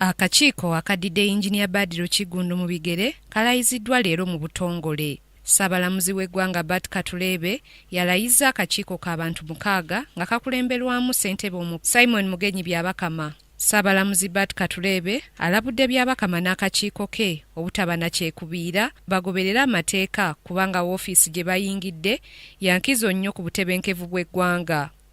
Akakiiko akaddidde Yinginiya Badru Kiggundu mu bigere kalayiziddwa leero mu butongole. Ssaabalamuzi w'eggwanga Bart Katureebe yalayizza akakiiko ka bantu mukaaga nga kakulemberwamu ssentebe omu Simon Mugenyi Byabakama. Ssaabalamuzi Bart Katureebe alabudde Byabakama n'akakiiko ke obutaba na kyekubiira bagoberere amateeka kubanga woofiisi gye bayingidde ya nkizo nnyo ku butebenkevu bw'eggwanga.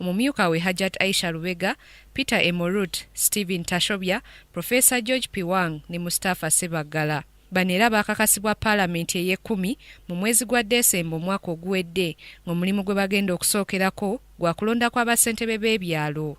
omumyuka we Hajjat Aisha Lubega, Peter Emorut, Steven Tashobya, Professor George Piwang ne Mustafa Ssebaggala. Bano era baakakasibwa Palamenti ey'ekkumi mu mwezi gwa Desemba omwaka oguwedde ng'omulimu gwe bagenda okusookerako gwa kulonda kwa bassentebe b'ebyalo.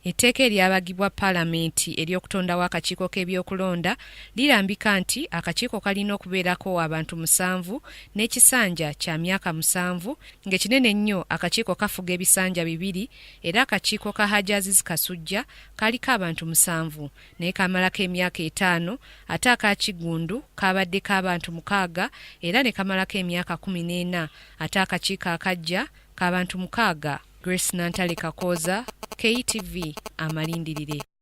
Etteeka eryabagibwa Palamenti ery'okutondawo akakiiko k'ebyokulonda lirambika nti akakiiko kalina okubeerako abantu musanvu n'ekisanja kya myaka musanvu ng'ekinene ennyo akakiiko kafuga ebisanja bibiri era akakiiko ka Hajji Aziz Kasujja kaaliko abantu musanvu naye kaamalako emyaka etaano ate aka Kiggundu kaabaddeko abantu mukaaga era ne kamalako emyaka kkumi n'ena ate akakiiko akaggya k'abantu mukaaga. Grace Nantale Kakooza, KTV, Amalindirire.